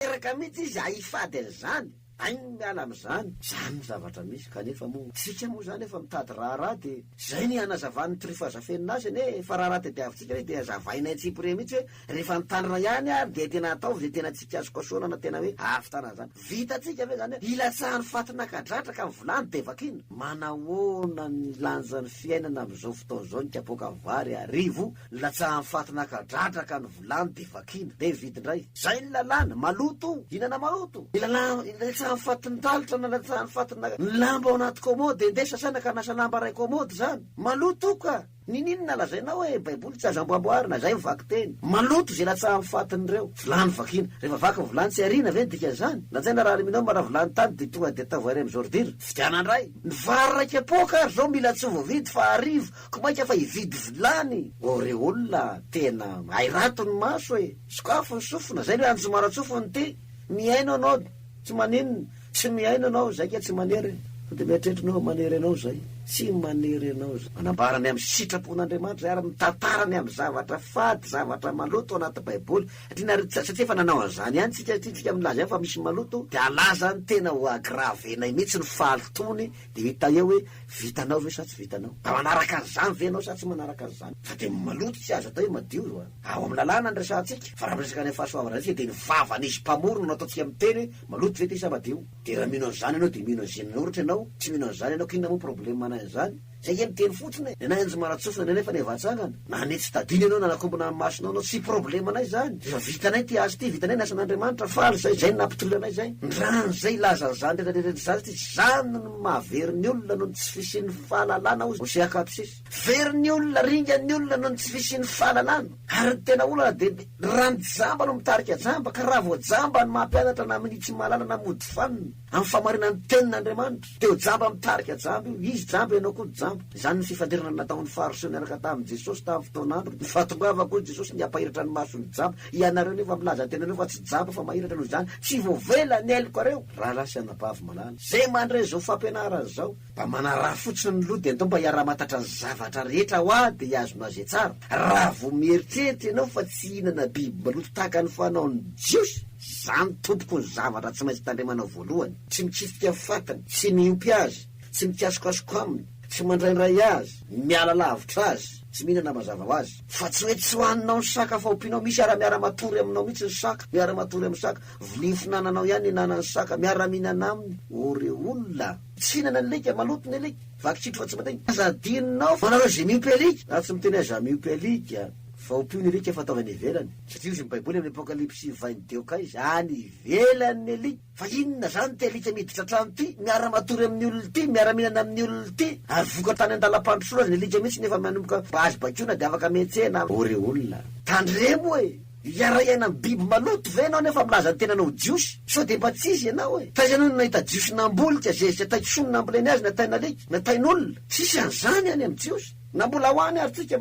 tanteraka mihitsy izy ahifady an'izany, ainy miala amin'izany, izany no zavatra misy, kanefa moa, isika moa izany efa mitady raharaha dia izay ny hanazavan'ny tryfa azafenina azy anie e, fa raharaha tadiavintsika ilay izy dia azavainay tsipiriha mihitsy hoe rehefa ny tanora ihany ary dia tena ataovy izay tena tsy kasokasohana na tena hoe ahavitana an'izany, vitantsika ve izany hoe hilatsahan'ny faty naka dratraka amin'ny vilany dia vakiana? Manahoana ny lanjan'ny fiainana amin'izao fotoana izao ny kapoaka vary arivo Nilatsahan'i Faty naka dradraka ny vilany dia vakiana, dia nividy indray. Izay ny lalàna, maloto, hihinana maloto. Nilatsahan'i Faty ny talitra nalatsahan'i Faty naka ny lamba ao anaty kômôdy, ndeha sasaina ka nasa lamba iray kômôdy izany. Maloto ka! Nininona lazainao hoe baiboly tsy azo amboamboarina, izay ny vakiteny. Maloto izay latsahan'i Faty an'ireo. Vilany vakiana. Rehefa vaky ny vilany tsy ariana ve ny dikan'izany? Latsaina raha aluminium raha vilany tany dia tonga dia ataovy iray amin'ny zôridira. Vidiana indray. Ny vary iray kapoaka ary izao mila tsy ho voavidy fa arivo Ko mainka fa hividy vilany aureole a! Tena hay rato ny maso e! Sokafy ny sofina, zay no an'i Zomaratsofy no tia! Mihaino anao tsy maninona, tsy mihaino anao zay ka tsy manery e! Sao dia mieritreritra anao fa manery anao zay? Tsy manery anao zay! Manambara ny amin'ny sitrapon'Andriamanitra zay ary mitantara ny amin'ny zavatra fady, zavatra maloto ao anaty baiboly. Satria nareo tsy satria efa nanao an'izany ihany tsika satria tsika milaza ihany fa misy maloto dia alaza ny tena ho aggraver-nay mihitsy ny fahalotoany, Dia hita eo hoe vitanao ve sa tsy vitanao. Mba manaraka an'izany ve ianao sa tsy manaraka an'izany. Fa dia maloto tsy azo atao hoe madio io a. Ao amin'ny lalàna no resahantsika. Fa raha miresaka any amin'ny fahasoavana antsika dia ny vavan'izy mpamory no nataontsika miteny hoe maloto ve ity sa madio. Dia raha mino an'izany ianao dia mino an'i Zenin'oritra ianao, tsy mino an'izany ianao k'inona moa problème anahy an'izany. Izay iha miteny fotsiny e. Ny anahy an'i Zomaratsofina nenefa ny evatsangana. Na ny tsy tadino ianao na nakombona amin'ny masonao anao, tsy problemanay izany. Efa vitanay ity asa ity, vitanay ny asan'Andriamanitra, faly izay, izay no nampitory anay izay. Ny rano izay ilaza an'izany rehetra rehetra izany satria tsy izany no mahavery ny olona noho ny tsy fisian'ny fahalalana, hoy Hosea Kapsis. Very ny olona, ringa ny olona noho ny tsy fisian'ny fahalalana. Ary ny tena olana dia ny, raha ny jamba no mitarika jamba, ka raha vao jamba no mampianatra na minia tsy mahalala na mody fanina, Amin'ny famarinan'ny Tenin'Andriamanitra. Teo jamba mitarika jamba io. Izy jamba, ianao koa jamba. Izany ny fifandirana nataon'ny Fariseo niaraka tamin'i Jesosy tamin'ny fotoan'androny. Ny fahatongavako, hoy Jesosy, ny hampahiratra ny mason'ny jamba. Ianareo nefa milaza an-tenanareo fa tsy jamba fa mahiratra, noho izany tsy voavela ny hailokareo, rahalahy sy anabavy malala. Izay mandre izao fampianarana izao. Mba manaraha fotsiny ny loha dia andao mba hiara-mahatatra ny zavatra rehetra hoa dia hiazona azy e tsara. Raha vao mieritreritra ianao fa tsy hihinana biby maloto tahaka ny fanaon'ny Jiosy, izany tompoko ny zavatra tsy maintsy tandremanao voalohany, tsy mikitika ny fatiny, tsy miompy azy, tsy mikasokasoka aminy, tsy mandraindray azy, miala lavitra azy, tsy mihinana mazava ho azy. Fa tsy hoe tsy hohaninao ny saka fa ompianao misy ary miara-matory aminao mihitsy ny saka, miara-matory amin'ny saka, vilia finananao ihany ny hinanan'ny saka, miara-mihinana aminy ô re olona. Tsy hihinana ny alika, maloto ny alika, vaky tsy trotsy mandainga. Aza adinonao fa anareo izay miompy alika, na tsy miteny aza miompy alika, fa ompio ny alika fa ataovy any ivelany. Tsy jiosy ny baiboly amin'ny apokalypsy vain deoka izy, any ivelany ny alika, fa inona izany ity alika miditra an-trano ity, miara matory amin'ny olona ity, miara mihinana amin'ny olona ity, ary voka tany an-dalam pandrosoana aza ny alika mihitsy nefa manomboka mba azo bakiona dia afaka mihetsehana am ory olona. Tandremo e! Hiara-hiaina amin'ny biby maloto ve ianao nefa milaza ny tenanao ho Jiosy? Sao dia mba tsy izy ianao e? Taiza ianao no nahita Jiosy nambolika zay izay tay kisoa no namboleny azy na tain'alika na tain'olona? Tsisy an'izany any amin'ny Jiosy. Na mbola ho any ary tsika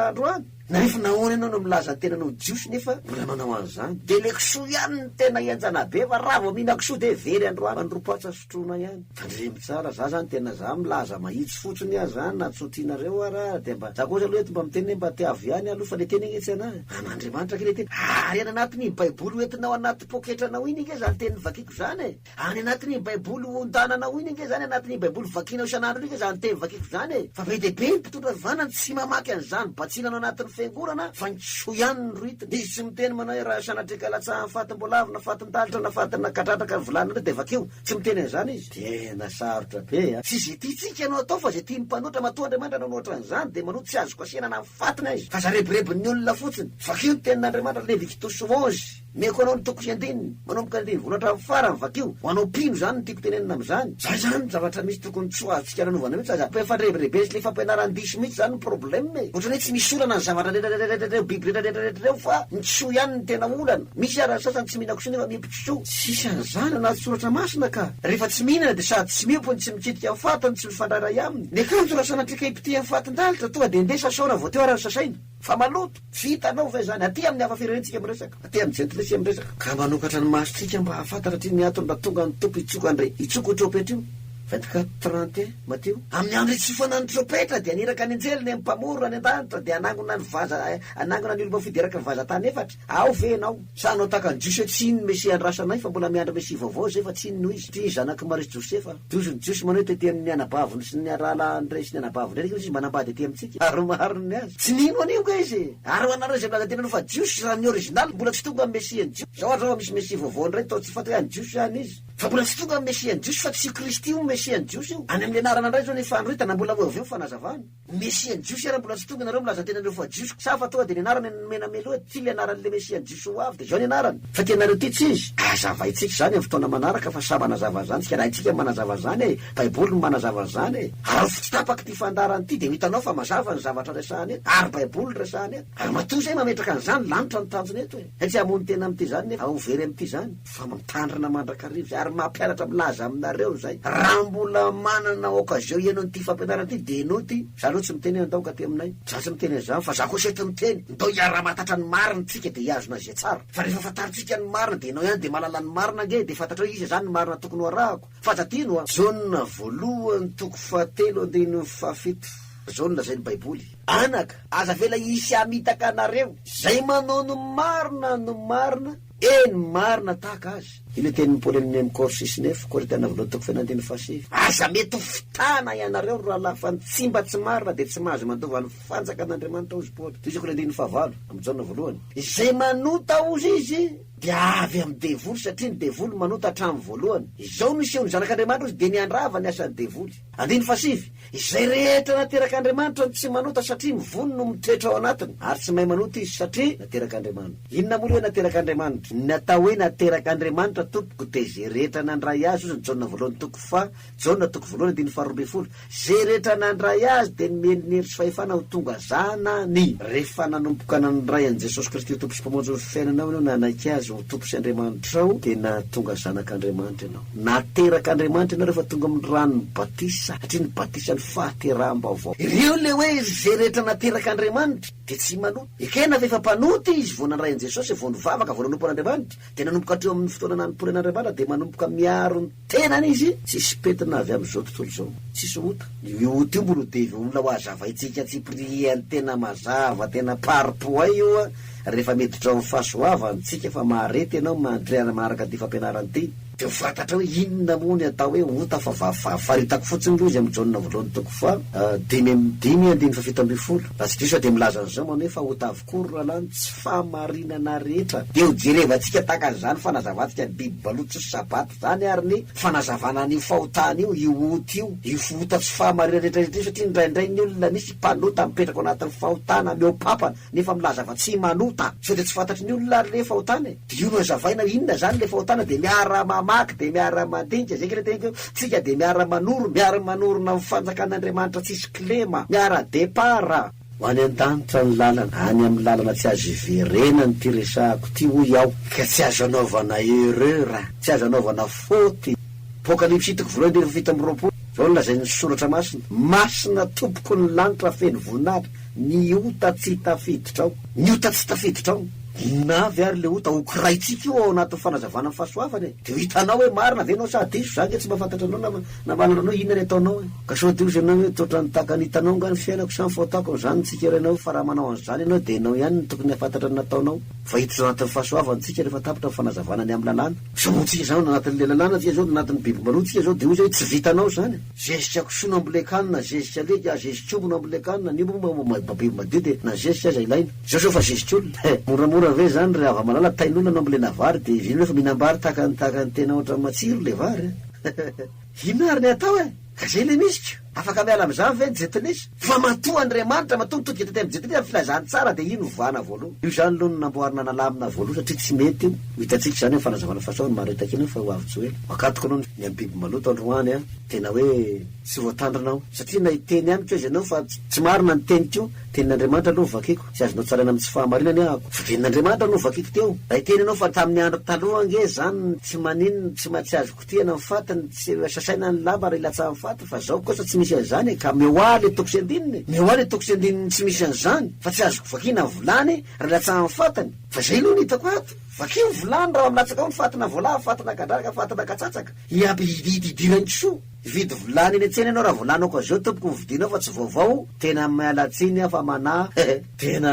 androany. Nanefa nahoana ianao no milaza ny tenanao ho Jiosy nefa mbola manao an'izany? Dia ilay kisoa ihany no tena henjana be fa raha vao mihinankisoa dia very androany manompoantsa. Trotrona ihany. Tandremo tsara, za zany tena za milaza mahitsy fotsiny a za na tsy otrianareo ara dia mba za kosa aloha eto mba miteny hoe mba tiavo ihany aloha fa le teny ange tsy ana e. An'Andriamanitra ange le teny. Ary any anatin'iny baiboly hoentinao anaty poketranao iny ange zany teny vakiko zany e. Any anatin'iny baiboly hontananao iny ange zany anatin'iny baiboly vakinao isan'andro iny ange zany teny vakiko zany e. Fa be dia be ny mpitondra fivavahana no tsy mamaky an'izany batsina any anatin'ny fiangonana fa ny kisoa ihany no rohitiny. Izy tsy miteny manao hoe raha sanatria ka latsahan'ny fatim-boalavo na fatim-. Dalitra nafady nakadradraka ny vilany indray dia vakio, tsy miteny an'izany izy. Tena sarotra be a! Tsy izay tiantsika no atao fa izay tian'ny mpanoatra, matoa Andriamanitra nanao ohatran'izany dia manoa tsy azo kasihina na ny faty na izy fa zarebirebin'ny olona fotsiny. Vakio ny tenin'Andriamanitra, Levititosy onze, meko anao ny toko sy andininy, manomboka ny andininy voalohany hatramin'ny farany, vakio, ho anao mpino izany no tiako tenenina amin'izany, izay izany ny zavatra misy. tokony tsy ho azontsika nanaovana mihitsy aza, mba efa rebirebentsika le fampianaran-diso mihitsy zany ny problème e, otrany hoe tsy misy olana ny zavatra retraretraretra reo biby retraretraretra reo fa ny kisoa ihany no tena olana, misy ara ny sasany tsy mihina kisoa nefa miompy kisoa, tsisy an'izany anaty soratra masina ka, rehefa tsy mihinana dia sady tsy miompy no tsy mikitika ny faty no tsy mifandray ray aminy, ny akanjo raha sanatriaka hipotehan'ny fatin-dalitra tonga dia ndeha sasao raha vao teo ara ny sasaina, fa maloto. Tsy hitanao ve izany? Aty amin'ny hafa firenentsika miresaka, aty amin'ny jentilisia miresaka, ka manokatra ny masontsika mba hahafantatra aty ny antony mba tonga ny Tompo hitsoka an-dry hitsoko io trompetra io. Vingt quatre, trente et un, Matio. Amin'ny andro hitsofana ny trompetra, dia haniraka ny anjely ny Mpamorona any an-danitra, dia hanangona ny vaza, hanangona ny olom-pafideraky ny vazan-tany efatra. Ao ve ianao? Sa anao tahaka an'i Jiosy hoe tsy inon'ny Mesia andrasanay fa mbola miandry Mesia vaovao zay fa tsy inona hoy izy, ty zanak'i Maria sy Josefa, Jiosy ny Jiosy manao hoe tety amin'ny anabaviny sy ny rahalahiny rey sy ny anabaviny rey kosa izy manambady aty amintsika ary mahariny ny azy. Tsy nino an'io nga izy e! Ary ho anareo izay milaza teny aloha fa Jiosy raha ny original mbola tsy tonga amin'ny Mesia ny Jiosy, zao ary zao misy Mesia vaovao indray tao tsy fantay an'ny Jiosy any izy fa mbola tsy tonga amin'ny Mesia ny Jiosy fa tsy io Kristy io Mesia ny Jiosy io, any amin'ny anarana indray zao ny fanoritana mbola ho eo avy eo ny fanazavana. Mesia jiosy ary mbola tsy tonga nareo milaza tena nareo fa jiosy sa fa tonga de ny anarany no nomena melo eo ty le anarany le mesia jiosy ho avy de zao ny anarany fa tianareo ty tsy izy ah azavaintsika zany am fotoana manaraka fa samy hanazava zany tsika raha itsika manazava zany e baiboly no manazava zany e araofo tsy tapaky ty fandaharany ty de ho hitanao fa mazava ny zavatra resahany eto ary baiboly no resahany eto ary matoa zay mametraka anzany lanitra no tanjona eto e tsy hamono tena am ty zany nefa ho very am ty zany. fa mitandrina mandrakariva ary mampianatra milaza aminareo izay raha mbola manana occasion hihaino an'ity fampianarana ity dia ianao ity, za aloha tsy miteny hoe andao ka aty aminay, za tsy miteny an'izany fa za kosa eto miteny ndao hiara-mahatatra ny marina tsika dia hihazona izay tsara fa rehefa fantarintsika ny marina dia ianao ihany dia mahalala ny marina ange dia fantatrao iza izany ny marina tokony ho arahako fa tadino hoa Jaona voalohany toko fahatelo andininy fahafito izao no lazain'ny baiboly, Anaka, aza avela hisy hamitaka anareo, izay manao ny marina no marina, Eny, marina tahaka azy. Ilay tenin'i Paoly an'i Memkor sy Snef, Korintiana Voalohany toko fahefatra andininy fahasivy. Aza mety ho fitana ianareo, ry rahalahy, fa ny tsy mba tsy marina dia tsy mahazo mandova ny fanjakan'Andriamanitra, hozy Paoly. Tohizo koa ny andininy fahavalo, amin'i Jaona Voalohany. Izay manota, hozy izy, dia avy amin'ny devoly, satria ny devoly manota hatramin'ny voalohany. Izao no isehoan'ny zanak'Andriamanitra, hozy, dia ny handrava ny asan'ny devoly. Andininy fahasivy, Izay rehetra naterak'Andriamanitra no tsy manota satria ny voany no mitoetra ao anatiny, ary tsy mahay manota izy satria naterak'Andriamanitra. Inona moa ilay naterak'Andriamanitra? Ny atao hoe naterak'Andriamanitra tompoko dia izay rehetra nandray Azy, hoy ny Jaona voalohany toko faha, Jaona toko voalohany andininy faharoa ambin'ny folo, izay rehetra nandray Azy dia nomeny ny hery sy fahefana ho tonga zanany. Rehefa nanomboka nandray an'i Jesosy Kristy ho Tompo sy Mpamonjy ny fiainanao ianao, nanaiky Azy ho Tompo sy Andriamanitrao, dia nahatonga zanak'Andriamanitra ianao. Nateraka Andriamanitra ianareo fa tonga amin'ny ranon'ny batisa satria ny batisa ny fahateraham-baovao. Ireo ilay hoe izay rehetra nateraka Andriamanitra dia tsy manota. Ekena fa efa mpanota izy vao nandray an'i Jesosy, vao nivavaka, vao nanompo an'Andriamanitra. Dia nanomboka hatreo amin'ny fotoana nanoporeana Andriamanitra dia manomboka miaro ny tenany izy. Tsisy pentina avy amin'izao tontolo izao. Tsisy ota. Io ota io mbola ho devola ho hazavaintsika tsipiriany tena mazava, tena par-points io. rehefa miditra ao amin'ny fahasoavany tsika fa mahareta ianao mandre ary maharaka ity fampianarana ity, dia ho fantatra hoe inona moa ny atao hoe ota fa vavavavy, faritako fotsiny aloha izy amin'ny Jaona voalohany toko faha dimy amby dimy andininy faha fito ambin'ny folo, raha tsy diso aho dia milaza an'izao manao hoe fa ota avokoa ry rahalahy ny tsy fahamarinana rehetra, dia ho jerevantsika tahaka an'izany fanazavantsika ny biby balotry sabata izany ary ny fanazavana an'io fahotana io, io ota io, io ota tsy fahamarinana rehetra rehetra io satria indraindray ny olona misy mpanota mipetraka ao anatin'ny fahotana mihoapapa, nefa milaza fa tsy manota sao dia tsy fantatry ny olona ary le fahotana e! Dia io no hazavaina inona zany le fahotana dia miara mamaky dia miara mandinika zay kely teniko eo, tsika dia miara manoro, miara manorina ny fanjakan'Andriamanitra tsisy kilema, miara départ. Ho any an-danitra ny lalana, any amin'ny lalana tsy azo iverenany ity resahako ity hoy aho, ka tsy azo anaovana erreur, tsy azo anaovana faute, Apocalypse hitako voalohany andininy fahafito amby roapolo, zao no lazain'ny soratra masina, masina tompoko ny lanitra feno voninahitra, Ny ota tsy tafiditrao. Ny ota tsy tafiditrao. Inona avy ary le ota hokiraintsika io ao anatin'ny fanazavana ny fahasoavana e? De ho hitanao hoe marina ve ianao sa diso, za ange tsy mahafantatra anao na na mahalala anao inona ny ataonao e? Ka sao de hozy ianao hoe toa otrany tahaka ny hitanao angaha ny fiainako sa ny fahotako no zany ny tsikerainao fa raha manao an'izany ianao de ianao ihany no tokony hahafantatra ny nataonao fa hiditra ao anatin'ny fahasoavana tsika rehefa tapitra ny fanazavana ny amin'ny lalàna. Zao moa tsika izany ao anatin'ilay lalàna tsika zao, anatin'ny biby maloto tsika zao de hoy zay hoe tsy vitanao izany. Zezika kisoa na mbola ekana na zezika lety ah zezik'omby na mbola ekana ny omby moa mba mba biby madio dia na zezika aza ilaina zao zao fa zezik'olona eh moramora ve zany ry havamalala tain'olona na mbola na vary dia izy ireny efa mihinam-bary tahaka ny tahaka ny tena ohatran'ny matsiro ilay vary eh inona ary ny atao eh ka zay ilay misy ko afaka miala amin'izany ve ny jeuntenesse. Fa matoa Andriamanitra, matoa mitodika tety amin'ny Jetilina ny filazantsara dia iny ovana voaloha. Io zany loha no namboarina nalamina voaloha satria tsy mety io. Ho hitantsika izany amin'ny fanazavana fasao ny maritaka iny fa ho avy joely. Makatoko anao ny amin'ny biby maloto androany an! Tena hoe tsy voatandrina aho. Satria na hiteny amiko aza ianao fa tsy marina ny teniko io, tenin'Andriamanitra aloha no vakiko. Tsy azonao tsaraina amin'ny tsy fahamarinany ahako. Fa tenin'Andriamanitra no vakiko teo. Raha hiteny ianao fa tamin'ny andro taloha ange izany tsy maninona, tsy mahatsiaro. Potehina ny faty ny tsy sasaina ny lamba ary ilatsaha ny faty fa zao kosa tsy misy an'izany e ka mihoaha le toko sy andininy e! Mihoaha le toko sy andininy tsy misy an'izany fa tsy azoko vakiana ny volany raha ilatsaha ny fatiny fa zay aloha no hitako ato! Vakio ny volany raha milatsaka ao ny fatina voalahy, fatina kadradraka, fatina katsatsaka! Hiampy hidiran kisoa! Hividy volany eny an-tsena ianao raha volany ok azeo tompoko no vidinao fa tsy vaovao! Tena miala tsiny aho fa manahy e! Tena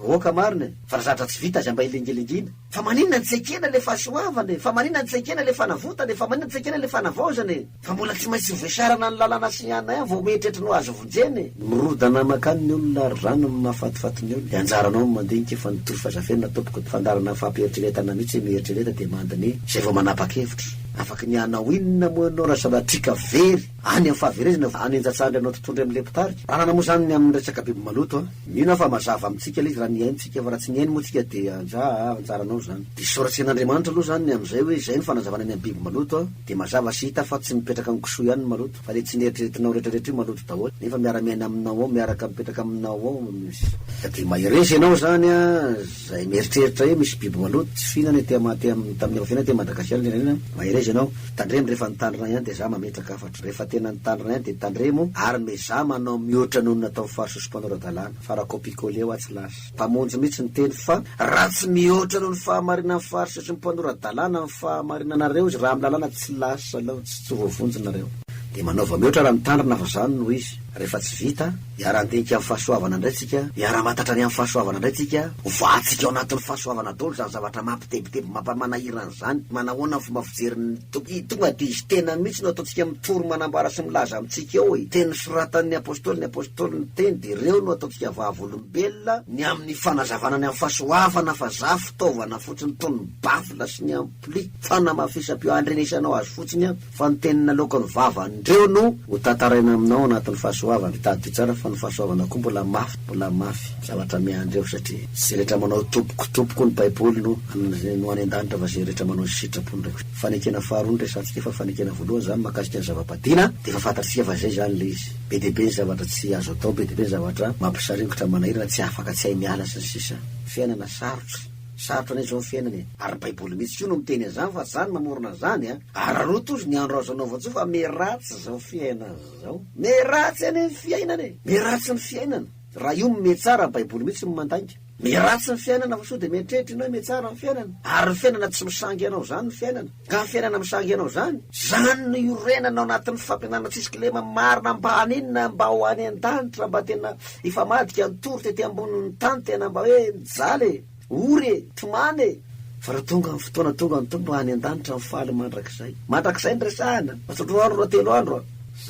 ok marina e! Fa raha zavatra tsy vita aza mba hilingilingiana! Fa maninona no tsy ekena ilay fahasoavana e? Fa maninona no tsy ekena ilay fanavotana e? Fa maninona no tsy ekena ilay fanavaozana e? Fa mbola tsy maintsy voasarana ny lalàna sy ny anay ihany vao mieritreritra ny ho azo vonjena e? Mirodana mankany ny olona ary zany no mahafatifaty ny olona. Dia anjaranao ny mandinika fa ny torofa zafenina tompoko fandaharana fampieritreretana mihitsy hoe mieritrereta dia mandiniha izay vao manapa-kevitra. Afaka ny hanao inona moa ianao raha sanatria ka very any amin'ny fahaverezana vao hanenja-tsandry anao totoindray amin'ilay mpitarika? Anana moa izany ny amin'ny resaka biby maloto an? Mino aho fa mazava amintsika ilay izy raha nihaintsika fa raha tsy nihaino moa tsika dia anjaha a, anjaranao izany. Dia soratsen'Andriamanitra aloha izany ny amin'izay hoe izay no fanazavana ny amin'ny biby maloto a, dia mazava sy hita fa tsy mipetraka amin'ny kisoa ihany ny maloto fa ilay tsy neritreretinao rehetrarehetra io maloto daholo nefa miara-miaina aminao ao, miaraka mipetraka aminao ao izy. Ka dia mahereza ianao izany a, izay mieritreritra hoe misy biby maloto tsy fihinana ety am, ety am, tamin'ny efa fiainana ety Madagasikara ny firenena, mahereza ianao, tandremo rehefa nitandrina ihany dia za mametraka fa. Rehefa tena ny tany rain de tandremo ary mezaha manao mihoatra noho ny nataon'ny farisosom-panao ara-dalàna. Fara copie coller hoatsy lasa. Mpamonjy mihitsy ny teny fa raha tsy mihoatra noho ny fahamarinan'ny farisosom-panao ara-dalàna ny fahamarinanareo izy raha amin'ny lalàna tsy lasa laontsy tsy voavonjy nareo. Dia manaova mihoatra raha mitandrina fa izany no izy. Rehefa tsy vita. Hiara-handinika amin'ny fahasoavana indray tsika, hiara-hamantatra ny amin'ny fahasoavana indray tsika, hovahantsika ao anatin'ny fahasoavana daholo izany zavatra mampitebiteby mampa-manahirana izany, manahoana ny fomba fijery ny Tompo, i tonga dia izy tenany mihitsy no ataontsika mitory manambara sy milaza amintsika eo e, teny nosoratan'ny Apostoly, ny Apostoly niteny dia ireo no ataontsika vavolombelona, ny amin'ny fanazavana ny amin'ny fahasoavana fa za fitaovana fotsiny toy ny bafla sy ny ampli, fanamafisam-peo handrenesanao azy fotsiny aho. Fa ny teny naloaka ny vavan-dreo no. Ho tantaraina aminao anatin'ny fahasoavana. Tadidio tsara fa ny fahasoavana koa mbola mafy, mbola mafy, zavatra miandry eo satria izay rehetra manao tompoko, tompoko ny baiboly no no any an-danitra fa izay rehetra manao sitrapo indray kosa. Fanekena faharoa no resahantsika fa fanekena voalohany izany mahakasika ny zava-badiana dia efa fantatr'isika fa izay izany ilay izy. Be dia be ny zavatra tsy azo atao, be dia be ny zavatra mampisaringotra, manahirana, tsy afaka, tsy hay miala sy ny sisa. Fiainana sarotra, sarotra anie izao ny fiainana e. Ary ny baiboly mihitsy koa no miteny an'izany fa tsy za no mamorona an'izany a. Ararao tojo ny andro azo anaovao tso fa meratsy zao fiainana zao. Meratsy anie ny fiainana e! Meratsy ny fiainana. Raha io metsara baiboly mihitsy no mandainga. Meratsy ny fiainana fa sao dia mieritreritra ianao hoe metsara ny fiainana. Ary ny fiainana tsy misangy anao zany ny fiainana. Ka ny fiainana misangy anao zany? Zany no iorenana ao anatin'ny fampianana tsisy kilema marina mba haninona mba ho any an-danitra mba tena hifamadika ny tory tety ambonin'ny tany tena mba hoe mijaly e! O re! Tomany e! Fa raha tonga ny fotoana tonga ny Tompo any an-danitra ny faly mandrakizay. Mandrakizay ny resahana! Raha telo andro, raha telo andro a!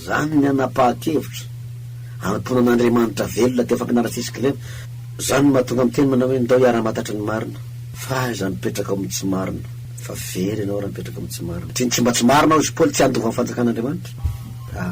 Zany ny hanapahan-kevitra. Hanompoana an'Andriamanitra velona teo fampianaran'i Fisikilena. Zany no mahatonga miteny manao hoe ndao hiara-matatry ny marina. Fa aiza ny mipetraka ao amin'ny tsy marina? Fa very ianao raha mipetraka ao amin'ny tsy marina. Satria ny tsy mba tsy marina hoy i Paoly tsy handova ny fanjakan'Andriamanitra. A.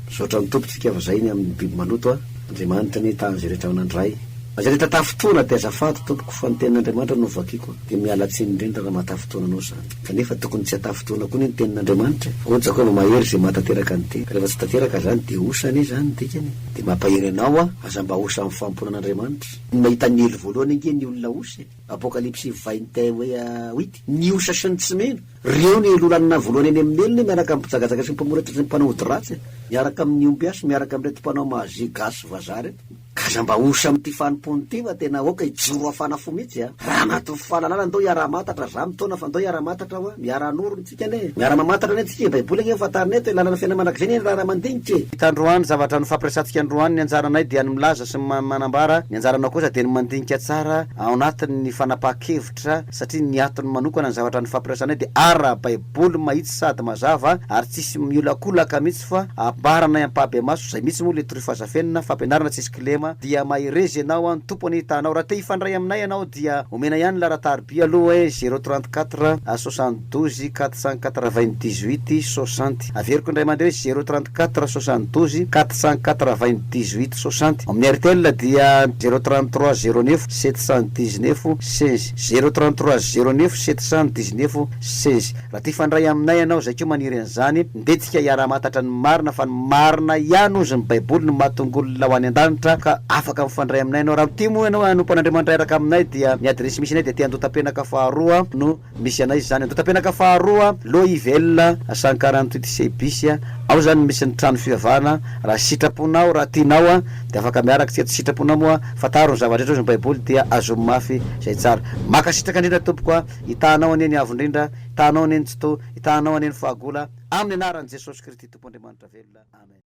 Misaotra ny Tompo tsika fa zay ny aminy biby maloto a! Andriamanitra anie tahan'ny zay rehetra manandray azy rehetra tafintoana de azafady tompoko fa ny tenin'Andriamanitra no vakiko de miala tsiny indrindra raha mahatafintoana anao zany kanefa tokony tsy atafintoana koa anie ny tenin'Andriamanitra e! Ohatra zao kôva mahery zay mahatanteraka ny tena rehefa tsy tanteraka zany de osa anie zany ny dikany e! De mampahery anao a! Aza mba osa amin'ny fanompoana an'Andriamanitra! Ny mahita ny elo voalohany ange ny olona osa e! Apokalypsy vin et un hoe a wit! Ny osa sy ny tsy mino Reo ny loha lanona voalohany eny amin'ny elona miaraka amin'ny mpijagajaka sy ny mpamoretry ny mpanao ody ratsy miaraka amin'ny ombiasy miaraka amin'ireto mpanao magie gasy sy vazaha reto ka aza mba osa amin'ity fanompoana ity fa tena aoka hijoro hafana fo mitsy a! Raha mahatovy fahalalana ndao hiara hamantatra za mitaona fa ndao hiara hamantatra hoa miara hanoro ny tsika anie miara mamantatra anie tsika e baiboly ange no fantarina eto e lalana fiainana mandrakizay anie ny raharaha mandinika e! Hita androany zavatra nofampiresatsika androany ny anjaranay dia ny milaza sy ny manambara ny anjaranao kosa dia ny mandinika tsara ao anatiny ny fanapaha-kevitra. Fototra, satria ny atony manokana ny zavatra nifampiresahanay dia ara-baiboly mahitsy sady mazava ary tsisy miolakolaka mihitsy fa ambaranay ampahabemaso, zay mihitsy moa le truff aza fenina, fampianarana tsisy kilema, dia mahereza ianao an, ny Tompo anie hitanao, raha te hifandray aminay ianao dia omena ihany la ratarby aloha eh, zero trente quatre, soixante douze, quatre cent quatre vingt dix huit, soixante. Averiko indray mandeha hoe zero trente quatre soixante douze quatre cent quatre vingt dix huit soixante, ao amin'ny Airtel dia zero trente trois zero neuf sept cent dix neuf seize, zero trente trois zero neuf sept cent dix neuf seize. Raha te hifandray aminay ianao izay koa maniry an'izany dia tsika hiara-hamantatra ny marina fa ny marina ihany hozy ny baiboly no mahatonga olona ho any an-danitra ka afaka mifandray aminay ianao. Raha mitia moa ianao hanompo an'Andriamanitra hiaraka aminay dia ny adiresy misy anay dia te handoa tampenaka faharoa no Misy anay izany Andotapenaka faharoa Lo Yvel Sankara ny Tweet sy Bis a! Ao izany no misy ny trano fivavahana raha sitraponao raha tianao a! dia afaka miaraka tsia tsy sitraponao moa fantaro ny zava-drehetra hozy ny baiboly dia azom mafy izay tsara Mankasitraka indrindra tompoko a! Hitahanao anie ny avo indrindra Hitahanao anie ny tsitoha Hitahanao anie ny fahagola Amin' ny anaran' i Jesosy Kristy Tompo Andriamanitra velona Amen.